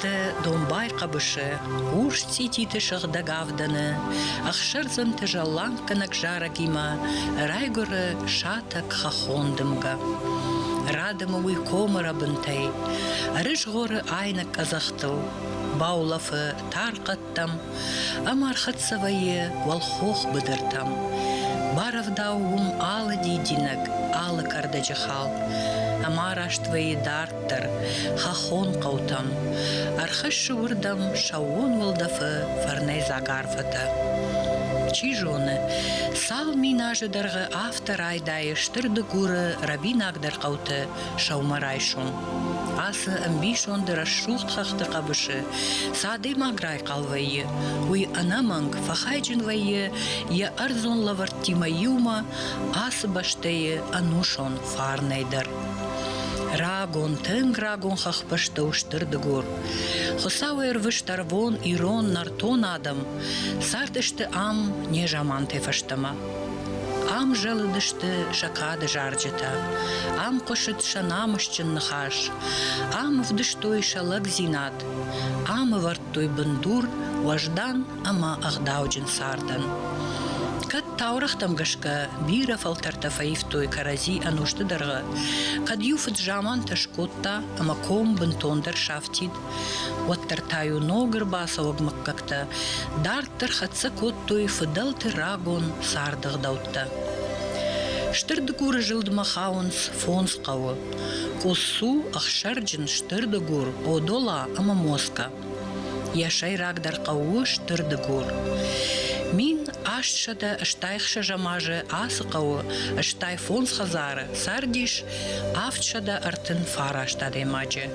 Ды домбай хъӕбысы, урс цъититы сыгъдӕг авдӕны, ӕхсӕрдзӕнты зӕлланггӕнӕг зарӕгимӕ райгуыры сатӕг хӕххон дымгӕ. Рӕдымы уый комыры бынтӕй, ӕрызгъоры айнӕг къӕдзӕхтыл, баулӕфы тархъӕд фӕндӕгтӕм ӕмӕ ӕрхӕццӕ вӕййы уӕлхох быдыртӕм. Барӕвдау уым алы дидинӕг, алы кӕрдӕджы хӕлд, ӕмӕ араст вӕййы дарддӕр, хӕххон хъӕутӕм. Ӕрхӕссы уырдӕм сӕууон уӕлдӕфы фӕрнӕйдзаг арфӕтӕ. Чи зоны, сау миназы дӕргъы афтӕ райдайы стыр дыгуры рӕбинагдӕр хъӕуты сӕумӕрайсом. Ацы ӕмбисонды рӕсугъд хӕхты хъӕбысы цы адӕймаг райхъал вӕййы, уый ӕнӕмӕнг фӕхайджын вӕййы йӕ ӕрдзон лӕвӕрттимӕ иумӕ ацы бӕстӕйы ӕнусон фарнӕй дӕр. Рагон, тынг рагон хӕхбӕстӕ у Стыр Дыгур. Хуыцауӕй ӕрвыст ӕрвон, ирон, нӕртон адӕм цардысты ам незамантӕй фӕстӕмӕ. Ам зӕлыдысты сӕ кады зарджытӕ, ам хъуысыд сӕ намысджын ныхас, ам ӕвдыстой сӕ лӕгдзинад, ам ӕвӕрдтой бындур уӕздан ӕмӕ ӕгъдауджын цардӕн. Кӕд таурӕгътӕм гӕсгӕ бирӕ фӕлтӕртӕ фӕивтой кӕрӕдзи ӕнусты дӕргъы, кӕд иу фыд замантӕ скодта ӕмӕ ком бынтондӕр сафтид, Уӕддӕр та-иу ног ӕрбацӕуӕг мыггӕгтӕ дарддӕр хӕццӕ кодтой фыдӕлты рагон царды гъдӕуттӕ. Стыр дыгуры зылдмӕ хауынц фондз хъӕуы – Къуссу, Ӕхсӕрджын, Стыр дыгур, Одола ӕмӕ Москӕ. Йӕ сӕйрагдӕр хъӕу у Стыр дыгур. Мин астсӕдӕ стайхсӕзӕм азы ацы хъӕуы стай фондз хӕдзары цардис авдсӕдӕ ӕртын фараст адӕймаджы.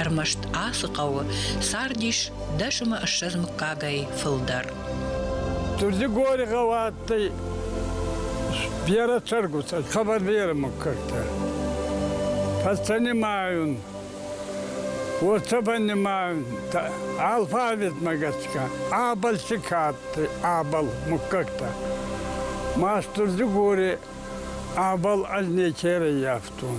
Ӕрмӕст ацы хъӕуы цардис дӕсымы ссӕдз мыггагӕй фылдӕр. Дурдигори гъӕу адтӕй берӕ цӕргутӕ, хабардеры муггӕгтӕ. Фӕстӕ нимайун, уотӕ ба нимайун, алфавитмӕ гӕсгӕ Абалчи ка адтӕй, Абал муггӕгтӕ. Ма Стурдигори Абал ӕз некерӕййафтон.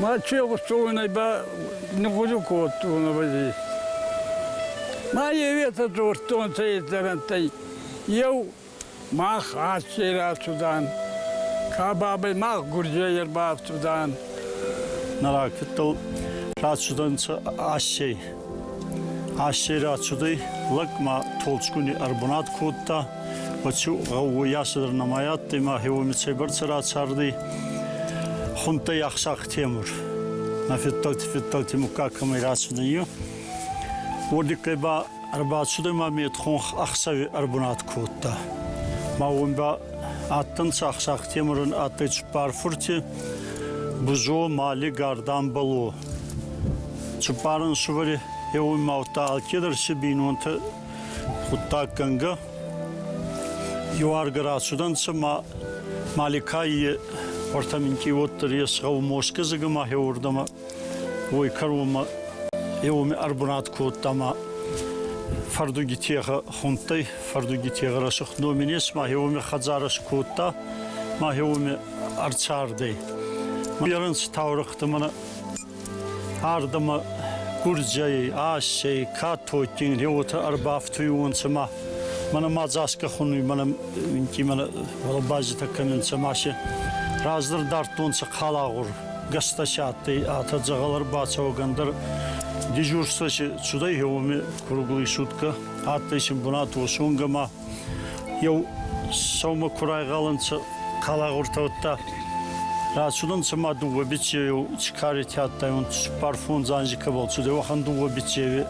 Мачи гъустуйнай ба нигъуду кодтон абази. Ма евета дзурдтонцӕ издӕрӕнттӕй. Еу мах аццей рацудан, ка бабӕй мах гурдзей ӕрбафтудан. Нарӕгтыл рацудӕнцӕ ассей. Ӕсе рацудӕй, лӕг ма толчгуни ӕрбунат кодта, Бачу гъӕууйасӕдӕр нӕма адтӕй ма хеуоми цӕйбӕрцӕ рацардӕй. Хунттӕй ӕхсах Темур. Нӕ феддӕлти феддӕлти муггаг кӕмӕй рацудӕй, уордиккӕй ба ӕрбацудӕй ма медхонх ӕхсӕви ӕрбунат кодта. Ма уон ба адтӕнцӕ ӕхсах Темурӕн адтӕй цуппар фурти Бузо, Мали, Гардан, Бало. Цыппарӕн сывӕри еуемаудта алкедӕр си бийнонтӕ гъуддаггӕнгӕ. Еуаргӕ рацудӕнцӕ ма Маликайи уартӕ минкъий уоддӕр ес гъӕу Мосгазигӕ ма хеуордӕмӕ, уой кӕронмӕ еуеми ӕрбунат кодта ма фӕрдуги техӕ хундтӕй. Фӕрдуги техӕ рӕсугъд номи нес ма хеуеми хӕдзарӕ скодта, ма хеуеми ӕрцарди. Беренц таурыхъты мӕ ардӕмӕ гурдзӕй, ассӕй, катотин, реотӕ ӕрбафтуйонцӕ ма мӕнӕ ма дзаска хунуй мӕнӕ инки мӕнӕ базитӕ кӕнунцӕ ма се раздӕр дардтонцӕ халагъур гӕстӕси адтӕй атӕ дзӕгъӕл ӕрбацӕуӕгӕндӕр дежурствӕси цудӕй хеуоми круглый суткӕ адтӕй син бунат уосонгӕ ма Еу сӕумӕ ку райгъалӕнцӕ хъалагъуртӕ, уӕдта рацудӕнцӕ ма дууӕ биццеу ци каретӕ адтайуонцӕ, цуппар фондз анзи кӕбӕл цудӕй, уӕхӕн дууӕ биццеуи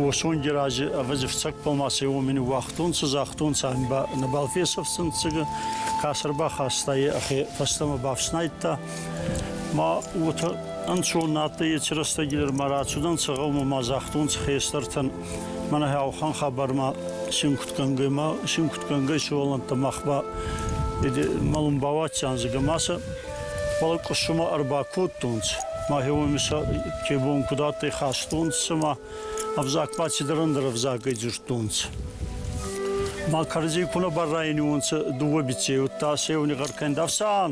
уосонги рази ӕвӕдзи фцӕгбӕл ма сӕ уомини уагътонцӕ, загътонцӕ ами ба нӕбал фесӕфтӕнцӕ, кӕсӕр бахаста е, ӕхе фӕстӕмӕ бафснайдта. Ма уотӕ ӕнцон нӕ адтӕй еци рӕстӕги дӕр ма рацудӕнцӕ гъӕумӕ ма загътонцӕ хестӕртӕн Мӕнӕ гьӕухан хабармӕ синкутгӕнгӕймӕ, синкутгӕнгӕй сувӕллӕнттӕ мах ба мӕлун бауадтӕнцӕ ӕма сӕ уӕлӕ къуссумӕ ӕрбакодтонцӕ. Мӕхе уоми сӕ ке бон куд адтӕй хастонцӕ ма ӕвзаг ба цидӕр ӕндӕр ӕвзагӕй дзурдтонцӕ. Ма кӕрдзи ку нӕ баррайӕниуонцӕ дууӕ биццей, удта сеуни гъӕркӕн дӕфсан!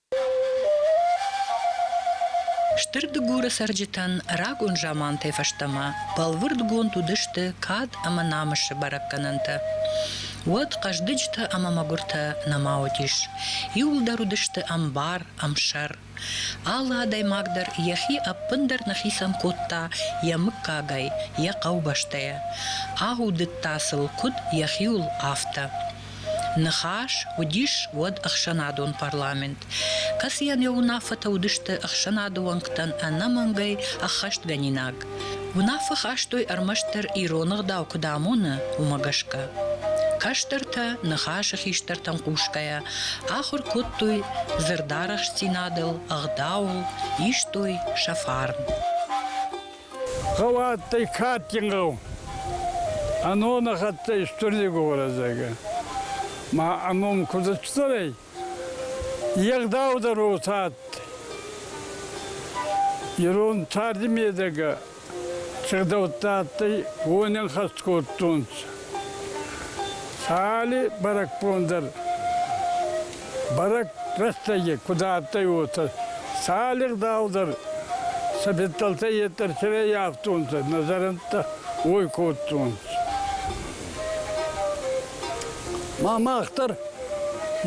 Стыр Дыгуры цӕрджытӕн рагон замантӕй фӕстӕмӕ бӕлвырдгонд уыдысты кад ӕмӕ намысы бӕрӕггӕнӕнтӕ. Уӕд хъӕздыджытӕ ӕмӕ мӕгуыртӕ нӕма уыдис. Иуылдӕр уыдысты ӕмбар, ӕмсӕр. Алы адӕймаг дӕр йӕхи ӕппындӕр нӕхицӕн кодта йӕ мыггагӕй, йӕ хъӕубӕстӕйӕ. Аудыдта сыл куыд йӕхиуыл, афтӕ. Ныхас уыдис уӕд ӕхсӕнадон парламент, кӕцыйӕн йӕ уынаффӕтӕ уыдысты ӕхсӕнады уӕнгтӕн ӕнӕмӕнгӕй ӕххӕстгӕнинаг. Уынаффӕ хастой ӕрмӕстдӕр ирон ӕгъдау куыд амоны, уымӕ гӕсгӕ. Кӕстӕртӕ, ныхасы хистӕртӕм хъусгӕйӕ, ахуыр кодтой дзырдарӕхстдзинадыл, ӕгъдауыл, истой сӕ фарн. Гъӕуӕттӕй кадгин гъӕу. Ӕнонӕх адтӕй Стурли городзагӕ. Ма ӕном куд ӕрцӕр ӕй, егъдаудӕр уотӕ адтӕй. Ирон тарди медӕгӕ сигъдӕуттӕ адтӕй, уонӕн хӕст кодтонцӕ. Сали бӕрӕгбон дӕр Бӕрӕг рӕстӕги куд адтӕй, уотӕ цали гъдау дӕр сӕ федтӕлтӕй еттӕрсерӕй ӕфтунцӕ, нӕ зӕрӕндтӕ уой кодтонцӕ. Ма мах дӕр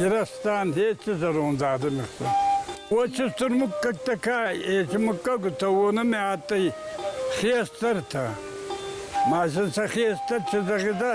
ирӕстан еци зӕронд адӕми хсӕн. Очи стур муггӕгтӕ ка, еци муггагутӕ уонӕмӕ адтӕй хестӕртӕ. Ма сын сӕ хестӕр чи зӕгъидӕ,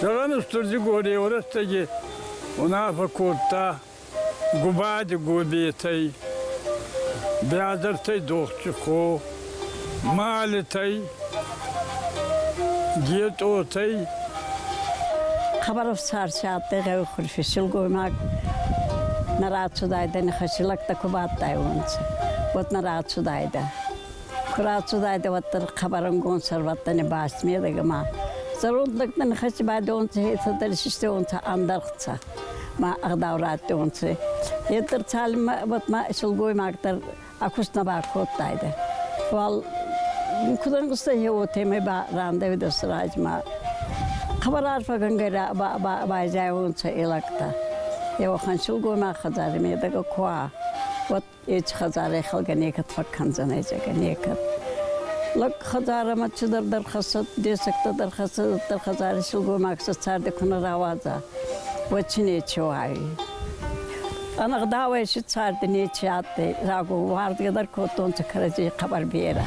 Зӕгъӕн Стурдигорей рӕстӕги унаффӕ кодта Губади Гобетӕй, Бязӕртӕй Дохчухо, Малитӕй, Гетъотӕй, Хабаров сарсиадтӕй гъеухурфи силгоймаг нӕ рацудайдӕ нихӕсилӕгтӕ ку бадтайуонцӕ, уӕд нӕ рацудайдӕ. Куы рацудайдӕ, уӕддӕр хъӕбӕрӕнгонд сӕрвӕттӕни баст медӕгӕмӕ. Зӕронд лӕгтӕ нихӕсти байдонци, хецӕддӕр систеонцӕ ӕндӕргъцӕ ма ӕгъдау раттионци. Хецӕр цалинмӕ уотмӕ силгоймагдӕр ӕ куст нӕ бакодтайдӕ. Уал куд ӕнгъустӕ хе уотемӕй ба рандӕуидӕ сразмӕ. Хъӕбӕр арфӕгӕнгӕй байзайонцӕ и лӕгтӕ. Еуӕхӕн силгоймаг хӕдзари медӕгӕ ку уа, уӕд Эти хӕдзарӕй хӕлгӕ некӕд фӕккӕндзӕн езегӕ, некӕд. Лӕг хӕдзарӕмӕ чидӕр дӕр хӕссӕд, десӕгтӕ дӕр хӕссӕд, дӕр хӕдзари силгоймаг сӕ царди ку нӕ рауадза, уӕдти нечи уайуй. Ӕнӕгъдауӕй си царди нечи адтӕй, рагон уарзгӕ дӕр кодтонцӕ кӕрӕдзей хъӕбӕр берӕ.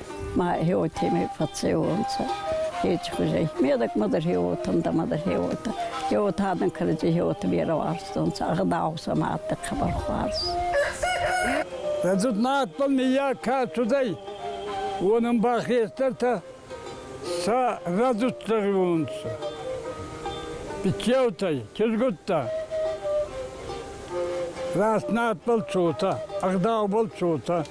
Ма еотемӕй фӕццеуонцӕ хечхузӕй. Медӕкмӕ дӕр еотӕн, дӕмӕ дӕр еотӕ. Еотӕн кӕрӕдзи еоти берӕ уарзтонцӕ, ӕгъдау сӕмӕ адтӕй хъӕбӕр хуарз. Рӕдзуд мадтон ниййаг ка цудӕй, уонӕн ба хестӕртӕ сӕ рӕдзуддӕрунцӕ. Бичеутӕй, кизгуттӕ. Раст надбӕл цотӕ, ӕгъдаубӕл цотӕ.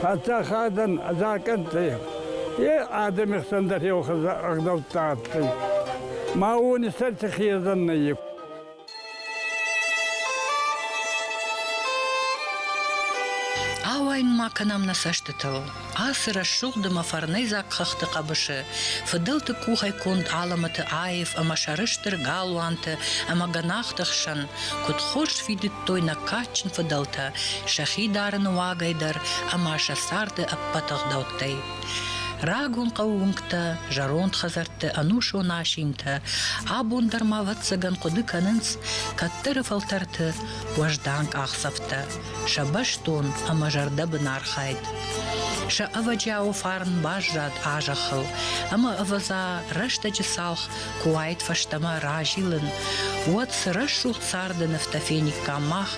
Паддзахадӕн закъӕнттӕ е адӕми хсӕн дӕр еу ӕгъдӕуттӕ адтӕй. Ма уони сӕр хезӕн нӕййи. Ауайын ма кӕнӕм нӕ цӕстытыл. Ацы рӕсугъд ӕмӕ фӕрнӕйдзаг хӕхты хъӕбысы фыдӕлты къухӕй конд алӕмӕты аив ӕмӕ сӕрыстыр галуанты ӕмӕ гӕнахты хсӕн Куыд хорз фидыдтой нӕ кадджын фыдӕлтӕ сӕхи дарыны уагӕй дӕр ӕмӕ сӕ царды ӕппӕт ӕгъдӕуттӕй. Рагон хъӕуы уынгтӕ, зӕронд хӕдзӕртты ӕнусон асинтӕ абон дӕр ма ӕвӕццӕгӕн хъуыды кӕнынц кӕддӕры фӕлтӕрты уӕздан къахдзӕфтӕ, сӕ бӕстон ӕмӕ зӕрдӕбын архайд. Сӕ ӕвӕджиауы фарн баззад а зӕххыл, ӕмӕ ӕвӕдза рӕстӕджы цалх куы уаид фӕстӕмӕ разилын, уӕд цы рӕсугъд царды нывтӕ фениккам мах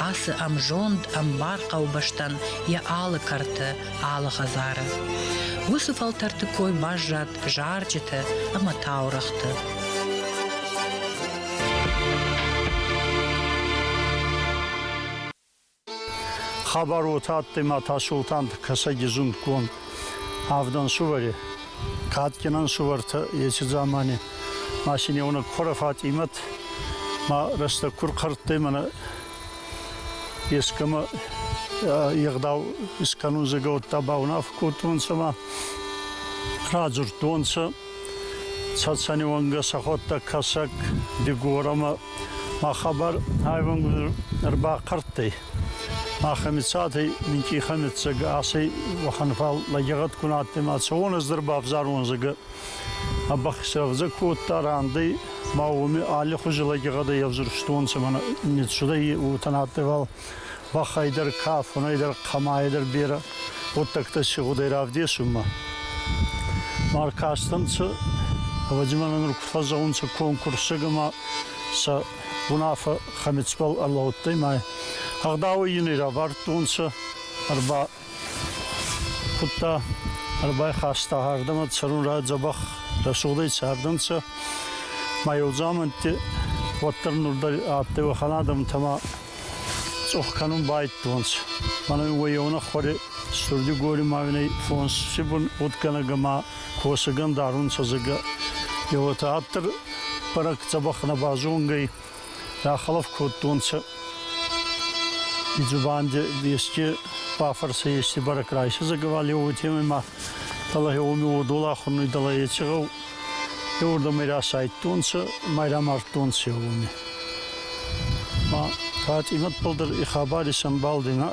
ацы ӕмзонд, ӕмбар хъӕубӕстӕн йӕ алы кӕрты, алы хӕдзары. Уыцы фӕлтӕрты кой баззад зарджыты ӕмӕ таурӕгъты. Хабар уотӕ адтӕй ма Тасолтан Кӕсӕги зундгонд авдӕн сувӕри. Кадгинӕн сувӕртӕ еци дзамани машинеуонӕг Кора Фатъимӕт ма рӕстӕг ку рхъӕрдтӕй мӕнӕ ескӕмӕ егъдау искӕнун зӕгӕ, уӕдта баунаф кодтонцӕ ма радзурдтонцӕ. Цӕцӕнеуӕнгӕ сӕхуӕдтӕг Кӕсӕг, Дигорамӕ ма хабар айвӕнгуй ӕрбахъӕрттӕй. Махӕмицатӕй минкъий хӕмиццаг асӕй уӕхӕн фал лӕгегъӕд ку на адтӕй ма цӕуон ӕз дӕр бавзарон зӕгӕ. А бӕхсӕвзӕ кодта рандӕй ма уоми алли хузи лӕгегъӕдӕй ӕвзурстонцӕ мӕнӕ нецудӕй уотӕ на адтӕй фал. бӕхӕй дӕр, кафонӕй дӕр, хъамайӕ дӕр берӕ гъуддӕгтӕ си гъудӕй равдесунмӕ. Ма ркастӕнцӕ, ӕвӕдзи мӕнӕ нур куд фӕззӕунцӕ конкурсӕг ӕма сӕ унаффӕ Хӕмицбӕл ӕрлӕудтӕй ма ӕгъдауӕй ин ӕй равардтонцӕ, ӕрба Кудта ӕрбайхаста ардӕмӕ цӕрунрӕ дзӕбӕх рӕсугъдӕй цардӕнцӕ, ма еудзамӕнтти уӕддӕр нур дӕр адтӕй уӕхӕн адӕмтӕмӕ цъох кӕнун байдтонцӕ. Мӕнӕ уоййонӕ хуӕре стурди гори мавинӕй фонси бун удгӕнӕг ӕма косӕгӕн дарунцӕ зӕгӕ. Еуетӕ адтӕр бӕрӕг дзӕбӕх нӕ базонгӕй, Рахӕлӕф кодтонцӕ дзубанди ести бафӕрсӕ ести барӕк райсӕзӕг уотемӕй ма дӕле уоми уодол ахурнуй дӕле еци гъӕу еуурдӕмӕй расайдтонцӕ ма рамардтонцӕ уоми. Ма Фатимӕтбӕл дӕр и хабар исӕмбалдина.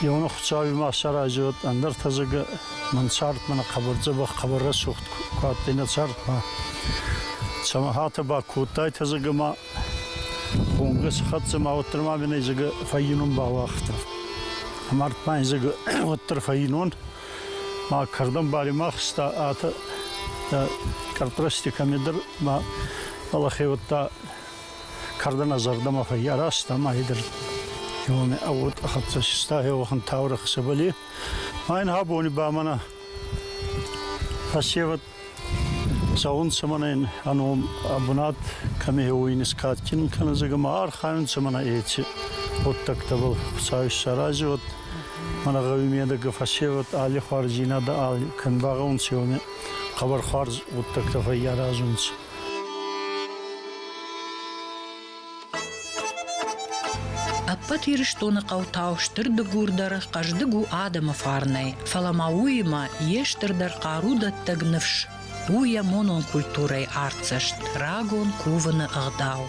Еуна Хуцауи ма саразиуат, ӕндӕр тӕзӕгӕ Мӕн цардмӕ нӕ хъӕбӕр дзӕбӕх, хъӕбӕр рӕсугъд куы адтӕй нӕ цардмӕ. Самахатӕ ба кодтайтӕ зӕгӕ ма хонгӕ си хӕццӕ ма уӕддӕр ма мин зӕгӕ фӕййунун бауагъта. Мард ма зӕгӕ уӕддӕр фӕййунун ма кӕрдӕн баримахста атӕ къӕртрасти кӕмедӕр ма балахе уӕдта кӕрдӕна зӕрдӕмӕ фӕййаразта ма идӕр еуоне ӕвод хӕццӕ систа еуӕхӕн таурӕхъ сӕбӕли Айн абони ба мӕнӕ фӕсевӕд цӕунцӕ мӕнӕн ӕ ном ӕ бунат кӕмӕ уой нискадгин кӕнунцӕ ма архайунцӕ мӕнӕ еци гъуддӕгтӕбӕл Хуцау исарази уӕд. Мӕнӕ гъӕуи медӕг фӕсевӕд аллихуарздзийнадӕ алли кен багъӕунцӕ, уони хъӕбӕрхуарз гъуддӕгтӕ фӕййаразунцӕ. Ӕппӕт Ирыстоны хъӕутау стыр дыгур дӕр хъӕздыг у адӕмы фарнӕй, фӕлӕ ма уыимӕ йе стырдӕр хъару дӕттӕг ныфс у йӕ монон культурӕйы артдзӕст, рагон кувыны ӕгъдау.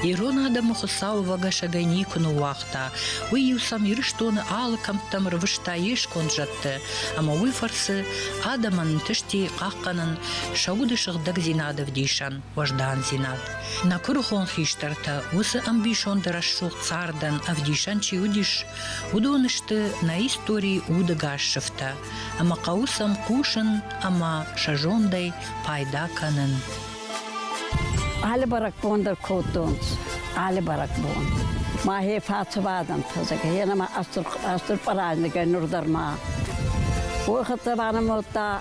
Ирон адӕмы Хуыцау ӕвӕгӕсӕгӕй никуы ныууагъта. Уый иу сӕм Ирыстоны алы кӕмттӕм рвыста йе сконд зӕдты, ӕмӕ уый фӕрцы адӕмӕн ӕнтысти хъахъхъӕнын сӕ уды сыгъдӕгдзинады вдисӕн. уӕздандзинад. Нӕ куырыхон хистӕртӕ уыцы ӕмбисонды рӕсугъд цардӕн ӕвдисӕн чи уыдис, уыдон сты нӕ историйы удыгас сыфтӕ, ӕмӕ хъӕуы сӕм хъусын ӕмӕ сӕ зондӕй пайда кӕнын. Алы бӕрӕгбон дӕр кодтонц. Алы бӕрӕгбон. Мӕхе фӕцувадӕн фӕзӕгӕ, ена ма астыр парадныгӕй нур дӕр ма. Уы хытта банамодта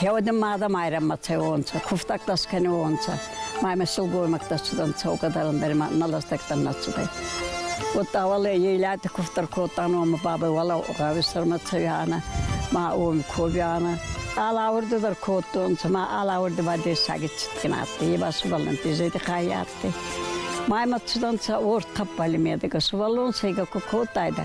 Хеуӕдин мадӕ майрӕммӕ цӕуонцӕ, кувтӕгтӕ скӕниуонцӕ, маймӕ силгоймӕгтӕ цудан цӕугӕдарӕн дӕр ма нӕ лӕстӕгтӕн нӕ цудӕй. Уотта уӕле ейлати кувтӕр кодтан уома бабӕй уӕлӕ гъӕуи сӕрмӕ цӕуянӕ, ма уоми ковянӕ. Алаурди дӕр кодтонцӕ, ма алаурди ба дессаги цитгин адтӕй, е ба сувӕллӕнтти зӕйти хай адтӕй. Маймӕ цудӕнцӕ уорд тӕппали медӕгӕ, сувӕллон сӕйгӕ ку кодтайдӕ,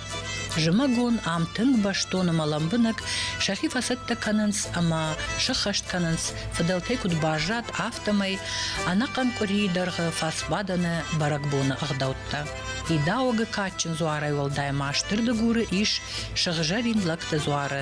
Зымӕгон ам тынг бӕстоны мӕ лӕмбынӕг сӕхи фӕцӕттӕ кӕнынц ӕмӕ сыххӕст кӕнынц, фыдӕлтӕй куыд баззад, афтӕмӕй ӕнӕхъӕн къуырийы дӕргъы фӕцбадӕны бӕрӕгбоны ӕгъдӕуттӕ. Идаугы кадджын дзуарӕй уӕлдай ма стыр дыгуры ис сыгъзӕрин лӕгты дзуары.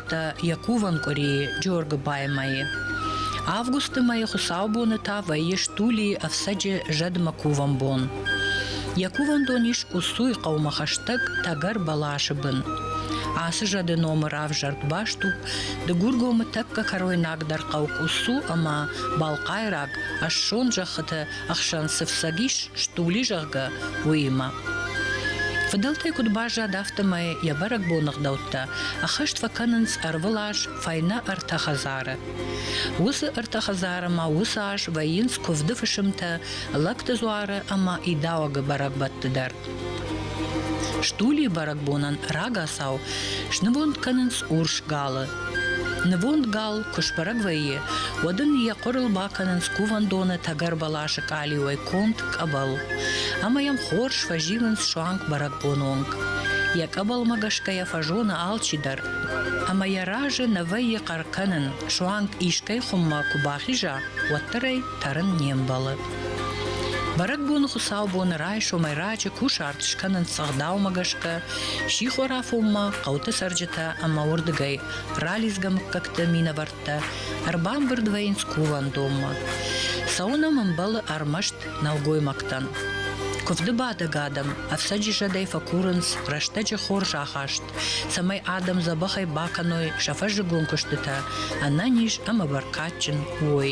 радта йӕ кувӕн къуырийы Джоргыбаймӕйы. Августы мӕйы хуыцаубоны та вӕййы стулийы ӕфцӕджы зӕдмӕ кувӕн бон. Йӕ кувӕндон ис Къуссуй хъӕумӕ хӕстӕг тӕгӕр бӕласы бын. Ацы зӕды номы равзӕрд баст у Дыгургомы тӕккӕ кӕройнагдӕр хъӕу Къуссу ӕмӕ балхъайраг ӕссон зӕххыты ӕхсӕн цы фцӕг ис, стули, зӕгъгӕ, уыимӕ. Фыдӕлтӕй куыд баззад, афтӕмӕй йӕ бӕрӕгбоны гъдӕуттӕ ӕххӕст фӕкӕнынц ӕрвылаз фӕйнӕ ӕртӕ хӕдзары. Уыцы ӕртӕ хӕдзары ма уыцы аз вӕййынц куывды фысымтӕ, лӕгты дзуары ӕмӕ идауӕгы бӕрӕгбӕтты дӕр. Стулийы бӕрӕгбонӕн рагацау снывонд кӕнынц урс галы. Нывонд гал куы сбӕрӕг вӕййы, уӕд ын йӕ хъуырыл бакӕнынц кувӕндоны тӕгӕр бӕласы къалиуӕй конд къӕбӕл. Ӕмӕ йӕм хорз фӕзилынц суанг бӕрӕгбоны онг. Йӕ къӕбӕлмӕ гӕсгӕ йӕ фӕзоны алчидӕр. Ӕмӕ йӕ разы нӕ вӕййы хъӕр кӕнын, суанг искӕй хуыммӕ куы бахиза, уӕддӕр ӕй тӕрын не мбӕлы. Бӕрӕгбоны хуыцаубоны райсомӕй раджы кусарт скӕнынц ӕгъдаумӕ гӕсгӕ сихорафонмӕ хъӕуты цӕрджытӕ ӕмӕ уырдыгӕй ралидзгӕ мыггӕгты минӕвӕрттӕ ӕрбамбырд вӕййынц кувӕндонмӕ. Цӕуын ӕм ӕмбӕлы ӕрмӕст нӕлгоймӕгтӕн. Куывды бадӕг адӕм ӕфцӕджы зӕдӕй фӕкурынц рӕстӕджы хорз ахаст, цӕмӕй адӕм дзӕбӕхӕй бакӕной сӕ фӕззыгон куыстытӕ ӕнӕниз ӕмӕ бӕркадджын уой.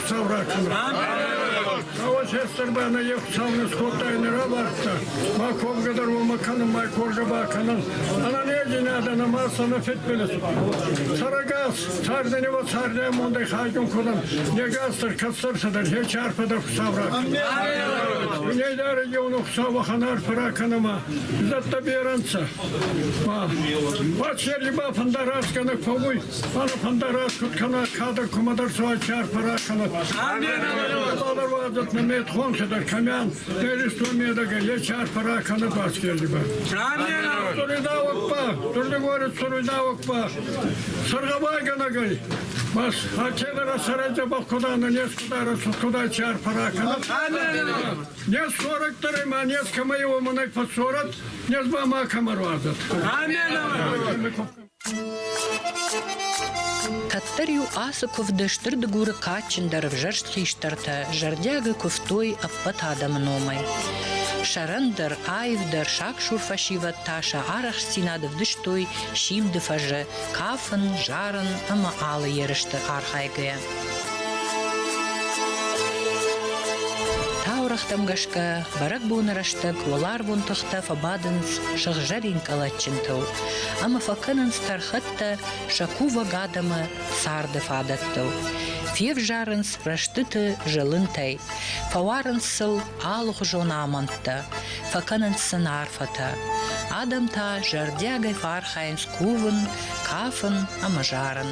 Хуцау ракӕна! Рауа сестӕрбӕ нӕ е Хуцау не скодтай, нӕ равардта. Ма комгӕ дӕр уомӕ кӕнун, ма коржа бакӕнун. Ӕна недзинадӕ нӕма сӕ нӕ федбилис. Сарагас, цардӕни ва цардӕй мондӕй хайгун кодам. Негастар кӕсӕрсӕдӕр хеч арфӕдӕр Хуцау ракӕна! Унейда региона Хуцау вахан арфа ракӕнама. Зӕдтӕ беренцӕ. Ва, Пачерли ба фӕнда раскӕнӕг фӕууй. Стефанов фӕндараст куд кӕна кадӕр кумӕдӕр суайчи арфӕ ракӕнӕт. Бабар уадзат на метхон дер камян, теристо медага ечи арфӕ ракӕнӕт аскерлибе. Туридавакпа, турли говорит туридавакпа. Саргавайганагай. Бас хачевера сараджа бахкуда на нес кудара куда чар параканат. Нес сорак таре ма нес камайо манак фасорат, нес ба ма камаруазат. Амен. Кӕддӕр-иу ацы куывды Стыр Дыгуры кадджындӕр ӕвзӕрст хистӕртӕ зӕрдиагӕй куывтой ӕппӕт адӕмы номӕй. Сӕрӕндӕр, аивдӕр, саксур фӕсивӕд та сӕ арӕхстдзинад ӕвдыстой симды фӕзы, кафын, зарын ӕмӕ алы ерысты архайгӕйӕ. Таурӕгътӕм гӕсгӕ, бӕрӕгбоны рӕстӕг уӕларвон тыхтӕ фӕбадынц сыгъзӕрин кӕлӕтджынтыл, ӕмӕ фӕкӕнынц тӕрхӕттӕ сӕ кувӕг адӕмы царды фадӕттыл. Февзарынц рӕстыты зылынтӕй, фӕуарынц сыл алыхуызон амӕндтӕ, фӕкӕнынц сын арфӕтӕ. Адӕм та зӕрдиагӕй фӕархайынц кувын, кафын ӕмӕ зарын.